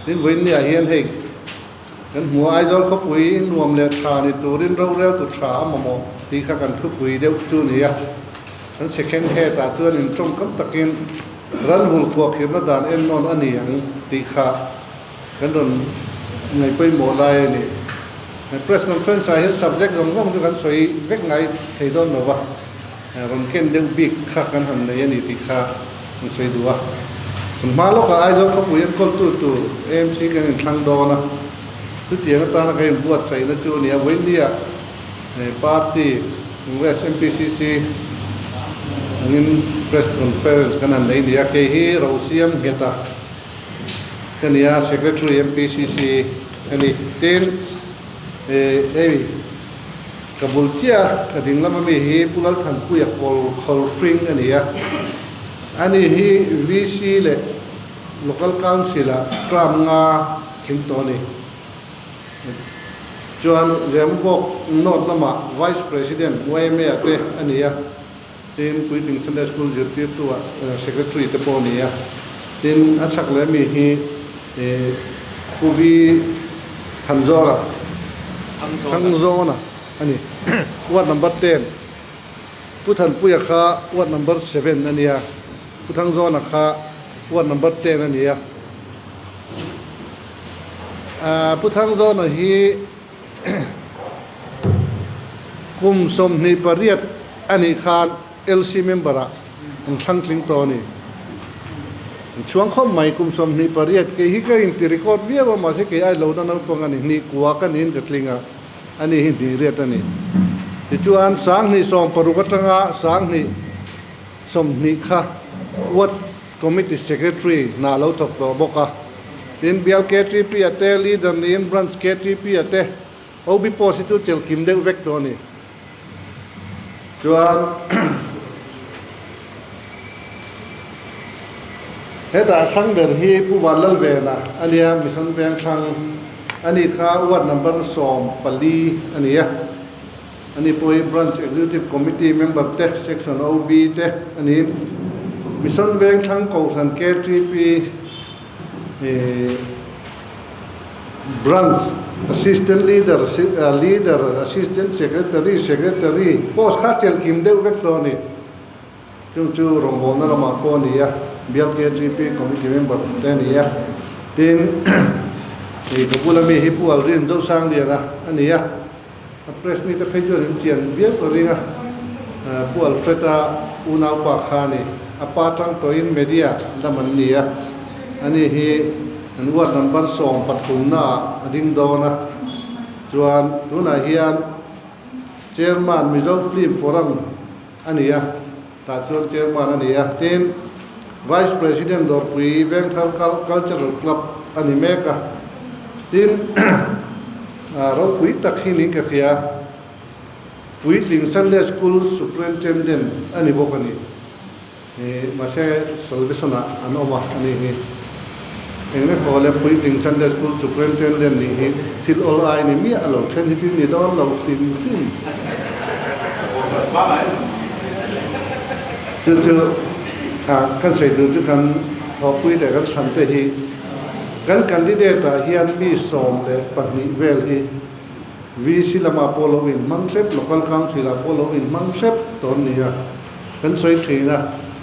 Hi vawiinliah hian hei kan hmu a, Aizawl khawpui nuam leh tha ni turin roreltu tha a mamawh tih kha kan thupui deuh chu ni a. Kan second head-ah chuan intawm kam takin ral hul kuahkhirhna dan en nawn a ni ang tih kha kan rawn ngaihpawimawh lai a ni. Press conference-ah hian subject zawng zawng chu kan sawi vek ngai thei dawn lo va. Rawn ken deuh bik kha kan han nei a ni tih kha kan sawi duh a. Kan hma lawkah Aizawl khawpui a kawltu tur amc kan inthlang dawn a. Chutiang atana kan inbuatsaihna chu a ni a, Vawinia party, congress, NPCC angin press conference kan han nei a ni a. Kei hi Rosiam Ngheta ka nia, secretary MPCC ka ni. Tin. Ei, ka bul chiah a ding lam a mi hi Pu Lalthanpuia kawl khawl hring a ni a. A ni hi VC leh Local Council-a Term nga thim tawh a ni. Chuan Zembawk North lamah Vice President YMA-a te a ni a. Tin, Puitling Sunday School zirtirtuah Secretary te pawh a ni a, tin a chhak leh mi hi Pu Vi Thanzawna Thangzawna a ni. Ward number ten Pu Thanpuia kha Ward number seven a ni a, Pu Thangzawna kha Ward number ten a ni a. Pu Thangzawna hi. Kum sawmhnih pariat a nih khan LC member ah in thlang tling tawh a ni. In chhuang khawp mai, kum sawmhnih pariat. Kei hi ka inti record viau a, mahse kei ai lohna naupang a ni. Hnih kua ka niin ka tling a, a ni hi hnih riat a ni. Tichuan, sang hnih sawm paruk atanga sang hnih sawmhnih kha uat. Committee Secretary hna lo thawk tawh bawk a, tin Bial KTP-a te, Leader niin Branch KTP-a te, OB post hi chu chel kim deuh vek tawh a ni. Chuan hetah thlang ber hi Pu Van Lalvena a nia, Mission Vengthlang a ni kha, Ward Number sawm pali a ni a. A ni pawh hi Branch Executive Committee member te, Section OB te a ni. Mission Vengthlang Kohhran KTP hi Branch Assistant Leader, Leader, Assistant Secretary, Secretary, post kha chelh kim deuh vek hlawh a ni. Chung chu rawngbawlna lamah pawh a ni a, BRKGP committee member te a ni a, tin, hei ka bula mi hi Pu Alrin Zosangriana a ni a, a press meet-a phei chuan in chian viau ka ring a, Pu Alfred-a unaupa kha ni, a pa tang tawhin media lam an ni a, ani hi an ward number sawm pathumna ah a ding dawn a, chuan tunah hian Chairman Mizo Film Forum, A ni a, tah chuan Chairman a ni a. Tin, Vice President Dawrpui Vengthar Kal Cultural Club a ni mek a. Tin, ropui tak hi min ka hria, Puitling Sunday School Superintendent a ni bawk a ni. Ni mahse Salvation-ah an awm a, anih hi. Eng nge khaw le Puitling Sunday School Superintendent nih hi thil awl ai ni miah a lo then hi thil ni dawn lo hlim hlim. Chu chu a kan sawitu chu khan Thawkpui leh kan thlan te hi kan candidate-ah hian mi sawm leh pahnih vel hi, VC lamah pawh lo in hmang hrep, Local Council ah pawh lo in hmang hrep tawh an ni a, kan sawi thin a,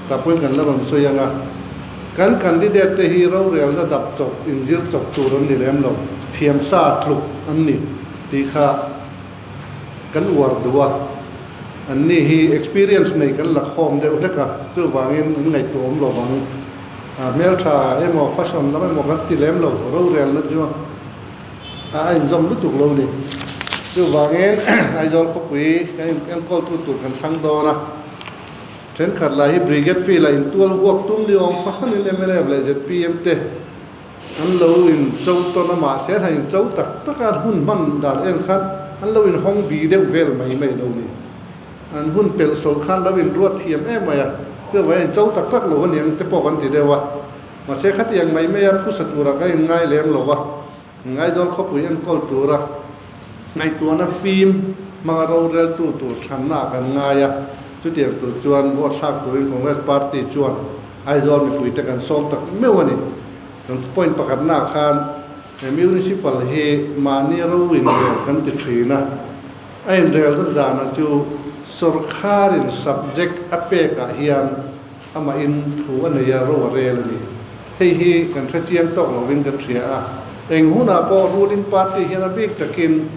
tah pawhin kan la rawn sawi ang a, kan candidate te hi rorel dadap chawp in zir chawp tur an ni lem lo, thiam sa tluk an ni tih kha kan uar duh a, an ni hi experience nei kan lakhawm deuh hlek a, chuvangin an ngaihtuah awm lo vang, hmeltha emaw fashion lam emaw kan ti lem lo, rorelna chu. a a inzawm lutuk lo ni. Chuvangin Aizawl khawpui kan in enkawltu tur kan thlâng dawn a. Thenkhat lai hi Brigade Field a intual huak tum ni awm kha khanin mlf leh zpm te an lo in cho tawn a mah se hnain cho tak tak a hun hman dan en khan an lo inhawng bi deuh vel mai mai lo ni. An hun pelh so khan lo inruat thiam em mai a, chuvangin cho tak tak lo a ni ang te pawh kan ti deuh a. Mahse khatiang mai maia phusa tura ka inngai lem lo a, Ngaidawr khawpui enkawl tura ngaihtuahna fim hmanga roreltu tur thlanna ah kan ngai a, chutiang tur chuan vote thlak turin Congress Party chuan Aizawl mipuite kan sawm tak meuh a ni. Kan point pakhatna ah khan he municipal hi mahni ro inrel kan ti thin a, a inrel dat dan ah chu sawrkharin subject a pek ah hian, Amahin thu a nei a, ro a rel a ni. Hei hi kan hre chiang tawk lovin kan hria a. Eng hunah pawh ruling party hian a bik takin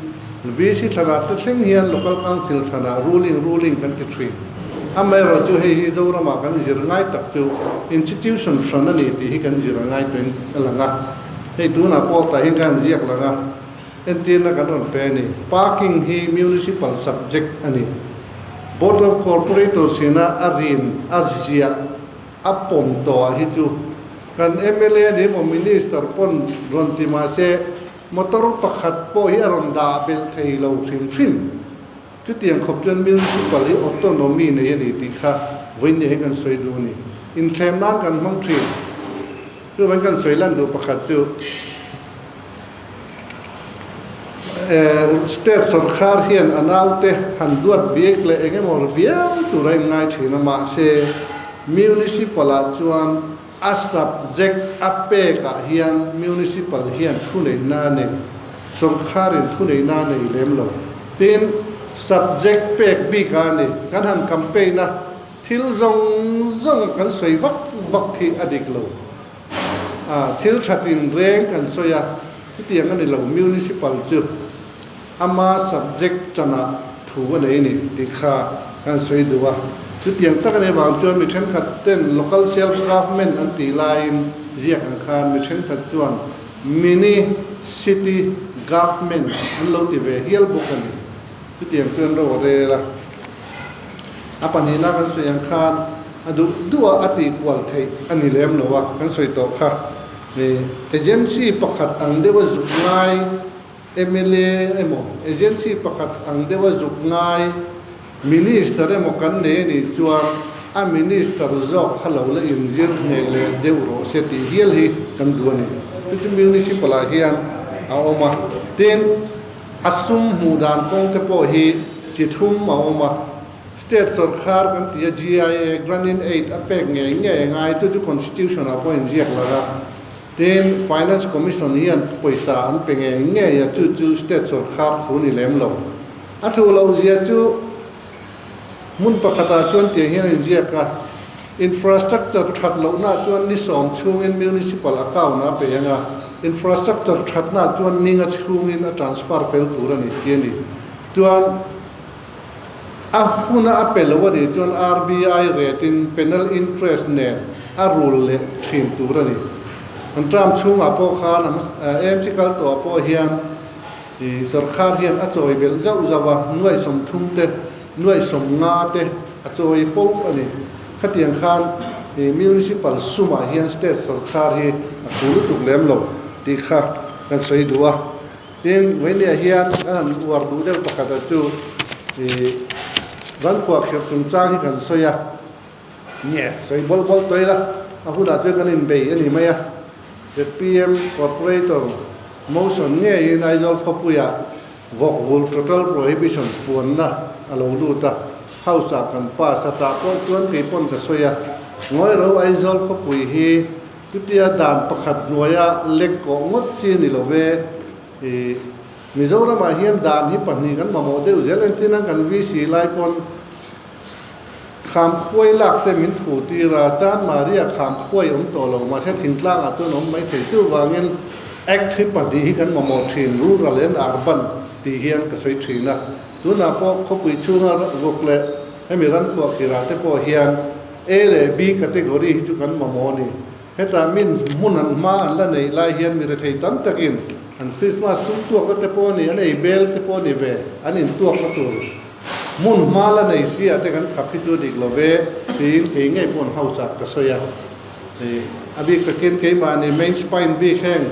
VC thlaratte thleng hian local council thlanah ruling ruling kan ti thin. A mayor chu hei hi Zorama kan zir ngai tak chu institution hran a ni tih hi kan zir a ngai tawhin a lang a. Hei tunah pawh tah hian kha an ziak lang a. Entirna kan rawn pe a ni. Parking hi municipal subject a ni. Board of Corporator sina a rin a ziah a pawm tawhah hi chu kan mla ni emaw minister pawn rawn ti mahse motor pakhat pawh hi a rawn dah belh thei lo hrim hrim. Chutiang khawp chuan municipal hi autonomy nei a ni tih kha vawinia hi kan sawi duh a ni. Inthlem nan kan hmang thin. Chu vawiin kan sawi lan duh pakhat chu eh state sorkar hian a naute han duat bik leh eng emaw ri viau tura in ngai thin a mahse municipal ah chuan, A subject a pek ah hian municipal hian thuneihna nei, sawngkhar in thuneihna nei lem lo. Tin, subject pek bik ah ni kan han kam peih na thil zawng zawng a kan sawi vak vak khi a dik lo. Thil that in reng kan sawi a, chutiang a ni lo, municipal chu. Ama subject chanah thu a nei a ni tih kha kan sawi duh a, chutiang tak nei vang chuan mi thenkhat ten local self government an tih laiin ziak ang khan mi thenkhat chuan mini city government an lo ti ve hial bawk a ni. Chutiang chuan rawh rel a, a pahnih na kan sawi ang khan a duh duh a a tih kual theih a ni lem lo a, kan sawi tawh kha agency pakhat ang deuha zuk ngai, Mla emaw agency pakhat ang deuha zuk ngai Minister emaw kan nei a nih chuan a Minister zawk kha lo la inzir hmel leh deuh rawh se tih hial hi kan duh a ni. Chu chu Municipal ah hian a awm a, tin a sum hmuh dan kawng te pawh hi chi thlum a awm a. State sawrkhar kan ti a GIA, Grant in Aid, a pek ngei ngei a ngai, chu chu Constitution ah pawh a inziak lar a. Tin, Finance Commission hian pawisa an pe ngei ngei a, chu chu state sawrkhar thu ni lem lo. A thu lo zia chu hmun pakhatah chuan tiang hian a inziak a, Infrastructure that lohnah chuan ni sawm chhungin municipal account a pe anga, Infrastructure thatna chuan ninga chhungin a transfer fel tur a ni tih a ni. Chuan. A huna a pe lo a nih chuan RBI rate in penal interest nen a rul leh thin tur a ni. An term chhungah pawh khan a AMC kal tawhah pawh hian ih sorkar hian a chawi belh zauh zauh a, nuaih sawmthum te, nuaih sawmnga te a chawi fauh a ni. Khatiang khan ih municipal sumah hian state sorkar hi a thu lutuk lem lo tih kha kan sawi duh a. Tin, Vawinia hian a han uar duh deuh pakhata chu Zan khuah kher chungchang hi kan sawi a, nge, sawi bawlh bawlh tawil a, a hunah chuan kan inbei a nih mai a. Zpm Corporator Motion ngeiin Aizawl khawpuia vawk vul total prohibition puanna a lo lut a, House-ah kan pass a tah pawh chuan kei pawn ka sawi a, ngawihro Aizawl khawpui hi, Chutia dan pakhat hnuaia lek kawh ngawt chi a ni lo ve. I Mizoramah hian dan hi pahnih kan mamawh deuh zel engtin a, kan VC lai pawn Khamkhuai lakte min thu tir a, Chan Maria Khamkhuai awm tawh lo, mahse Thingtlangah chuan awm mai thei chu vangin Act hi pahnih hi kan mamawh thin, Rural and Urban tih hian ka sawi thin a. Tunah pawh khawpui chhunga ruk leh hemi Rankhuah khirah te pawh hian, A leh B category hi chu kan mamawh a ni. Hetah min hmun an hma an la neih lai hian mi rethei tam takin an Krismas sum tuakna te pawh a ni, an ei bel te pawh a ni ve. An intuakna tur hmun hma la nei siah te kan khap hi chu a dik lo ve tiin kei ngei pawn hausak ka sawi a. A bik takin keimahni main spine bik heng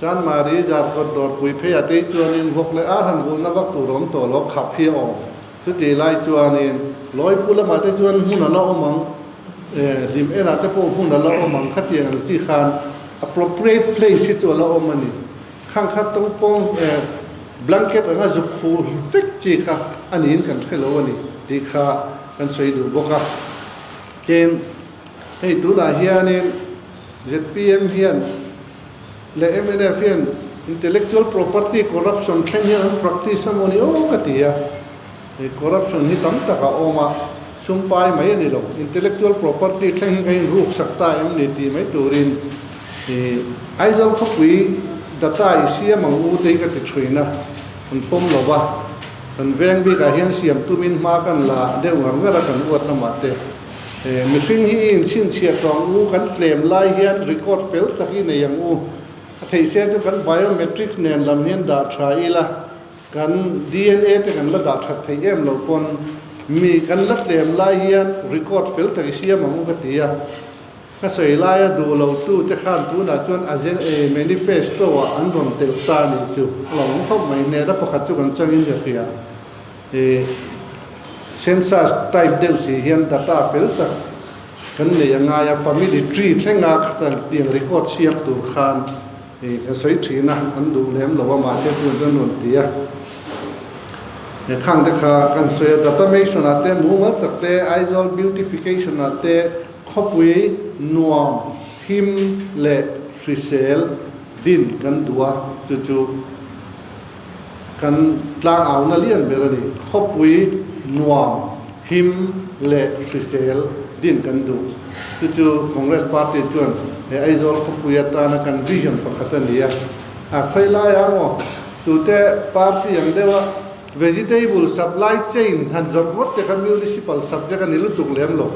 Chan Mari, Zarkawt, Dawrpuiphei a tei chuan in vawk leh arhan vulna vak tur awm tawh lo khap hi a awm. Chutih lai chuanin lawi pu lamah te chuan hmun a la awm ang, hlim enah te pawh hmun a la awm ang, khatiang ang chi khan appropriate place hi chu a la awm a ni. Khang khat tawng pawng blanket anga zuk khuh vek chi kha a niin kan hre lo a ni tih kha kan sawi duh bawk a. Tin, hei tunah hianin ZPM hian. leh mnf hian intellectual property corruption thleng hian an practice a maw ni aw ka ti a, he corruption hi tam tak a awm a, sumpai mai a ni lo, intellectual property thleng hi ka in ruk sak ta em ni tih mai turin Aizawl khawpui data i siam ang u te hi ka ti chhuin a, kan pawm lo va, kan veng bikah hian siam tumin hma kan la deuh ngar ngar a kan uat lamah te. He mihring hi in chhinchhiat tawng u, kan tlem lai hian record fel tak i nei ang u. A theih se chu kan biometric nen lam hian dah tha ila, kan DNA te kan la dah that theih em lo pawn mi kan la tlem lai hian record fel tak i siam ang u ka ti a. Ka sawi lai a duh lo tu te khan tunah chuan agen eh manifesto ah an rawn telh ta ni chu a lo awm khawp mai nen a pakhat chu kan changin ka hria. He census type deuh si hian data fel tak kan neih a ngai a, family tree thlenga kan tih ang record chhiak tur khan kan sawi thin a, an duh lem lo a mahse tunah chuan rawn ti a. He khang te kha kan sawi a, datamation ah te mumal tak te, Aizawl beautification ah te, khawpui, nuam, him leh hrisel din kan duh a chu chu. Kan tlang auna lian ber a ni. Khawpui, nuam, him leh hrisel din kan duh. Chu chu Congress Party chuan he Aizawl khawpui atana kan vision pakhat a ni a. A khawih lai ang aw, tute party ang deuha vegetable supply chain han zawrh ngawt te kha municipal subject a ni lutuk lem lo.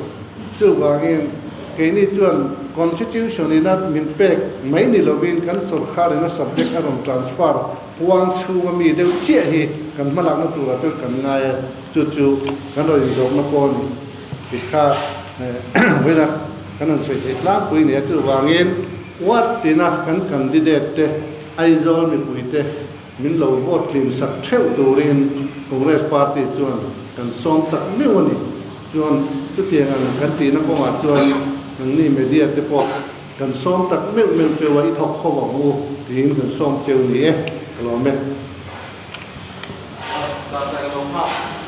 Chuvangin, keini chuan Constitution in a min pek mai ni lovin kan sorkar in a subject a rawn transfer puang chhunga mi deuh chiah hi kan hma lakna turah chuan kan ngai a, chu chu kan rawn inzawmna pawh a ni tih kha vawiina kan rawn sawi thei tlangpui a ni a. Chuvangin, what tina kan candidate te, Aizawl mipuite, Min lo vote tlinsak theuh turin Congress party chuan kan sawm tak meuh a ni. Chuan chutiang ang kan tihna kawngah chuan nangni media te pawh kan sawm tak meuh meuh cheu a, i thawk ho ang u tiin kan sawm cheu ni e, ka lawm e.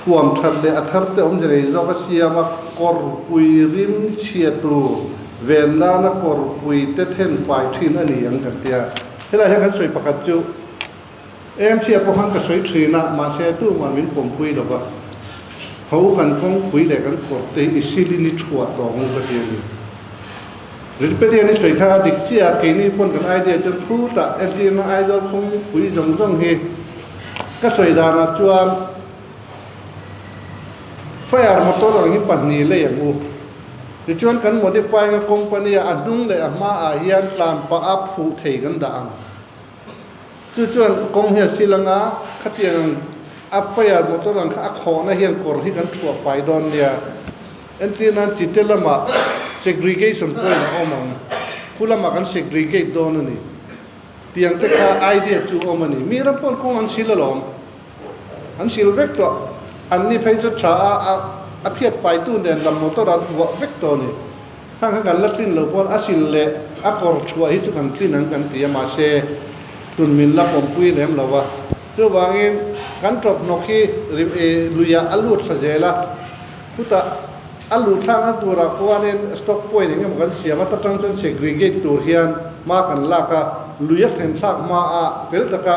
Thuam that leh a thar te awmze nei zawk a siam a, kawrpui rim chhia tur, ven lana kawrpui te then fai thin a ni an kan ti a. Helai hian kan sawi pakhat chu, Em chhia pawh khan ka sawi thin a, mahse tu ngah min pawmpui lo va, ho kan kawngpui leh kan kawrte hi i silin i thuah tawng u ka ti a ni. Rilparian i sawi kha a dik chiah a, keini pawn kan idea chuan khutah FDM a Aizawl khawngpui zawng zawng hi ka sawi danah chuan Fire motor ang hi pahnih lei ang u. Tichuan kan modifying a company a a hnung leh a hma ah hian tlan pah a phuh thei kan dah ang. Chu chuan kawng hi a sil ang a, khatiang ang a paihah motor ang kha a khawhna hian kawr hi kan thuah fai dawn nia. Entir nan chi te lama segregation point a awm ang, khu lamah kan segregate dawn a ni. Tiang te kha idea chu a awm a ni. Miram pawn kawng an sil alawm. An hrilh vek tawh. An ni phei chu tha a a phiat faitu nen lam motor an vuah vek tawh a ni. Khang kha kan la tlin lo pawn a hrilh leh a kawr chhuah hi chu kan tlin ang kan ti a mahse tun min la pawmpui lem lo a. Chuvangin kan tawphnawk hi luiah a lut thla zel a. Khutah a lut thlang a turah khuanin stock point eng emaw kan siam a ta tang chuan segregate tur hian hma kan lak a, luia thlenthlak hma a fel taka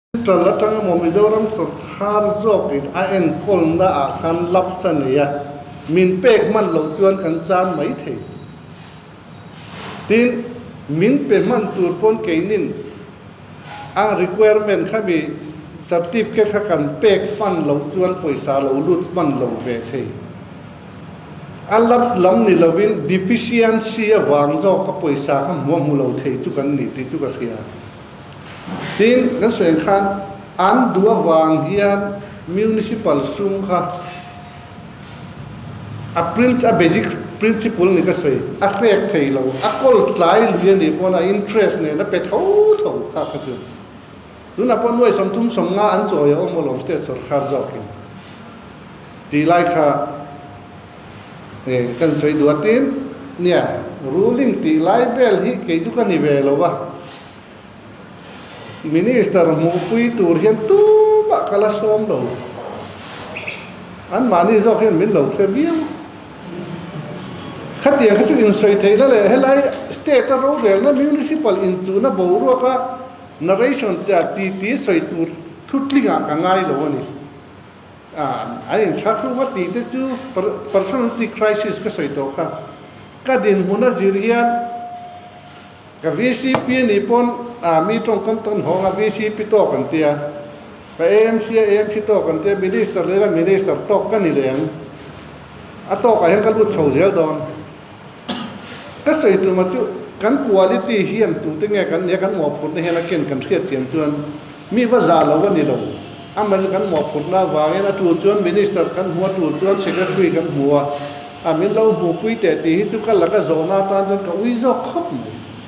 Chuttal atanga maw Mizoram sawrkar zawkin a enkawlna ah khan laps a ni a, min pek hman loh chuan kan chang mai thei. Tin, min pe hman tur pawn keinin a requirement kha mi certificate kha kan pek hman loh chuan pawisa lo lut hman lo ve thei. A laps lam ni lovin deficiency avang zawka pawisa kha hmuahmu lo thei chu kan ni tih chu ka hria. Tin, kan sawi ang khan an duh avang hian municipal sum kha a princ a basic principle ni ka sawi a hrek thei lo, a kawl tlai lui a nih pawna interest nen a pe tho tho kha kha chu. Tunah pawh nuai sawm thum sawm nga an chawi a awm alawm state sawrkar zawkin. Ti lai kha. Eng kan sawi duh atin nia, ruling tih lai vel hi kei chu ka ni ve lo a, Minister hmuhpui tur hian tumah ka la sawm lo, anmahni zawk hian min lo hre viau. Khatiang kha chu insawi theih la leh, helai state a rovelna municipal inchuna boruaka narration tia titi sawi tur thutlingah ka ngai lo a ni. An inthlak hlum a tihte chu personality crisis ka sawi tawh kha. Ka dinhmun a zir hian ka VCP a nih pawn mi tawngkam tawn hawng a, VCP tawk an tia, ka AMC a AMC tawk an tia, minister leh la minister tawk ka ni leh ang. A tawkah hian ka lut chho zel dawn. Ka sawi tluma chu kan quality hian tute nge kan nia kan mawhphurhna hian a ken kan hriat thiam chuan mi va za lo a ni lo. Amah chu kan mawhphurhna avangin a tul chuan Minister kan hmu a tul chuan Secretary kan hmu a, a min lo hmuh pui teh tih hi chu ka la ka zawhna atan chuan ka ui zawk khawp mai.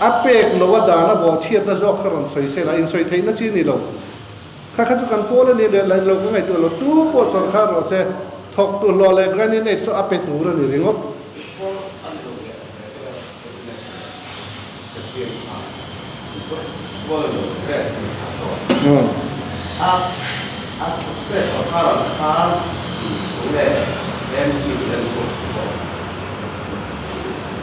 A pek loh a dan a bawh chhiatna zawk kha rawn sawi sela, insawi theihna chi ni lo. Kha kha chu kan pawl a nih leh la, lo ka ngaihtuah a lo, tu pawh sawn kha rawh se, thawk tu hlawh leh granny nate saw a pe tur a ni ringawt.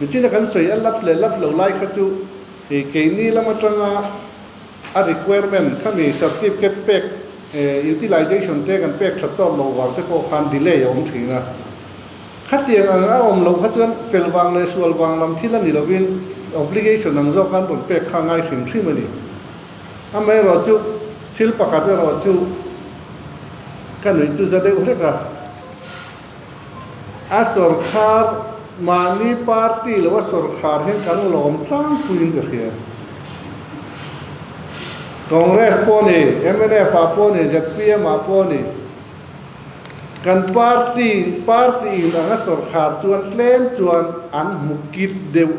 Nichina kan sawi a lap leh lap lo lai kha chu ih keini lam atanga a requirement khami certificate pek eh utilization te kan pek that tawk lo vang te pawh khan delay a awm thin a. Khatiang ang a awm lo kha chuan fel vang leh sual vang lam thil a ni lovin obligation ang zawk an rawn pek kha ngai hrim hrim a ni. Amaherawh chu thil pakhat erawh chu ka nuih chu za deuh hlek a. A sawrkhar mahni party loh a sawrkhar hian kan lawm tlangpuiin ka hriat. Congress pawh ni, mnf ah pawh ni, zpm ah pawh ni, kan party party in ang a sawrkhar chuan tlem chuan an hmu kit deuh.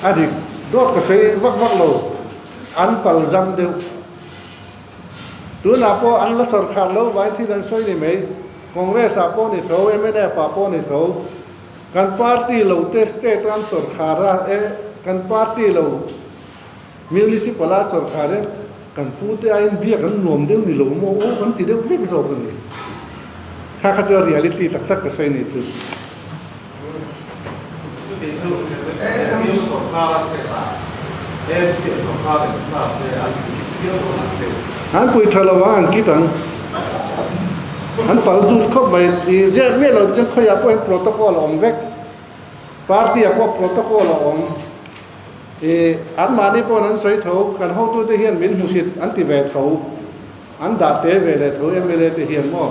A dik dawt ka sawi vak vak lo, an palzam deuh. Tunah pawh an la chawr khat lo vai thil an sawi ni mai. Congress ah pawh ni tho, MNF ah pawh ni tho, kan party lo te state a an chawr khat a, kan party lo municipal a chawr khat hian kan pu te aiin biak an nuam deuh ni lo maw aw kan ti deuh vek zawk a ni. Kha kha chuan reality tak tak ka sawi ni chu. Chuti chu News sawrkar a set a, ANC a sawrkar en hna se an pui tha viau dawn ang teh. An pui tha lo a, an kit ang. An pal zut khawp mai. I ziak miah lo chuan khawiah pawh hian protocol a awm vek. Party ah pawh protocol a awm. I an mahni pawn an sawi tho, kan hotu te hian min hmuhrit an ti ve tho, an dah te ve leh tho MLA te hian maw.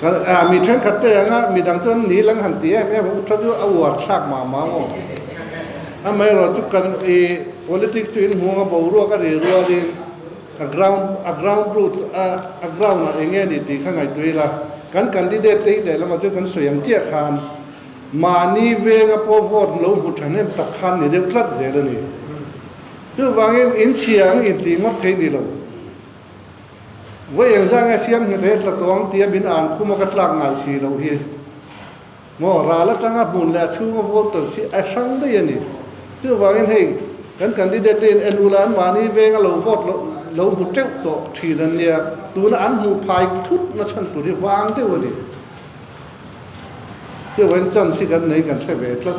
Mi thenkhat te anga mi dang chuan ni lang han ti em em a, u tha chu a uar thlak mah mah a maw. Amaherawhchu chu kan ih politics chu inhung a boruak a ri rual in a ground a ground root a ground ah eng nge a nih tih kha ngaihtuah ila. Kan candidate te hi lehlamah chuan kan sawi ang chiah khan mahni venga pawh vote lo hmu thahnem tak khan ni deuh tlat zel a ni. Chuvangin in chhia ang intih ngawt thei ni lo. Vawi eng zang e siam hngete tla tuang tia min an khum a ka tlak ngai si lo hi maw ral atanga hmun leh a chhunga voter chi a hrang daih a ni chuvangin hei kan candidate te in enu la an mahni venga lo vote lo lo hmu teuh tawh thin an nia tuna an hmuh phai thut na chhan tur hi vang deuh a ni chuvangin chance hi kan nei kan hre ve tlat.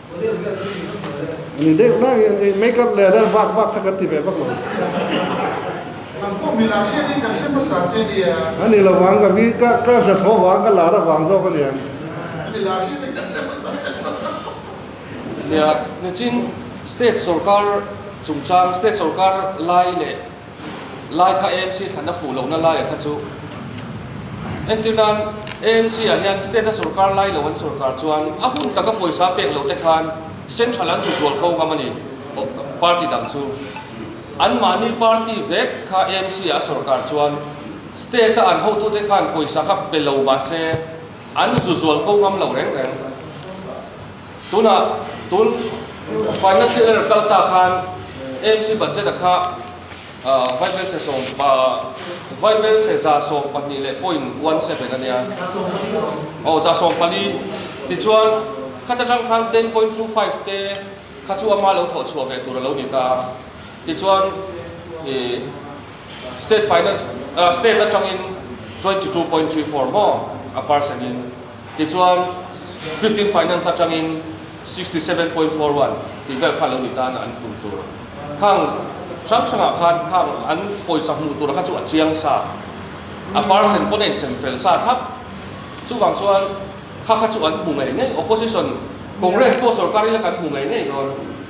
Nia, nichin state sorkar chungchang state sorkar lai leh. Lai kha AMC thlanna fuh lohna laia kha chu entir nan AMC ah hian state a sawrkar lai lo an sawrkar chuan a hun taka pawisa pek lo te khan central an zuzual ko ngam a ni party dang chu an mahni party vek kha AMC ah a sawrkar chuan state a an hotu te khan pawisa kha pe lo mahse an zuzual ko ngam lo reng reng. Tunah tun financial year kal ta khan AMC budget a kha vaibel chhe za sawm pahnih leh point one seven a nia, aw za sawm pali, tichuan kha ta tang khan ten point two five te kha chu ama lo thawh chhuah ve tur a lo ni ta, tichuan state finance state atangin twenty two point three four maw a percent in Tichuan, Fifteen Finance atangin Sixty seven point four one tih vel kha lo ni tan a an tum tur khang hrang hrangah khan khang an pawisa hmuh tura kha chu a chiang sa a parcel pawh a insen fel sa thlap. Chuvang chuan kha kha chu an hmu ngei ngei, Opposition, Congress pawh sorkar ila kan hmu ngei ngei dawn.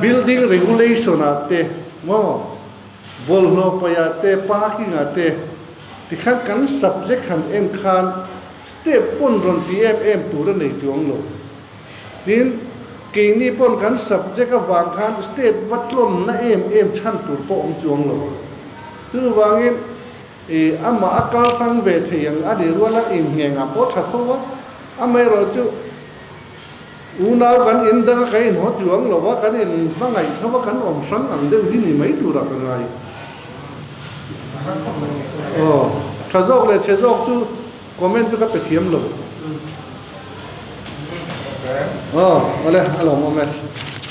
Building regulation ah te maw, bawlhhlawh paih ah te, parking ah te, tikhan kan subject han en khan step pawn rawn ti em em tur a nei chuang lo. Tin, keini pawn kan subject avang khan step va tlawn na em em chhan tur pawh awm chuang lo. Chuvangin i amah a kal hlang ve thei ang a nih rual a, inhngengah pawh tha tho a, amaherawhchu, Unau kan in dang a kan in haw ṭiuang lo a, kan in hmangaih tho a, kan awm hrang ang deuh hi ni mai tur a ka ngai. Aw, ṭha zawk leh chhe zawk chu comment chu ka pe thiam lo. Aw, awle a lawm awm e.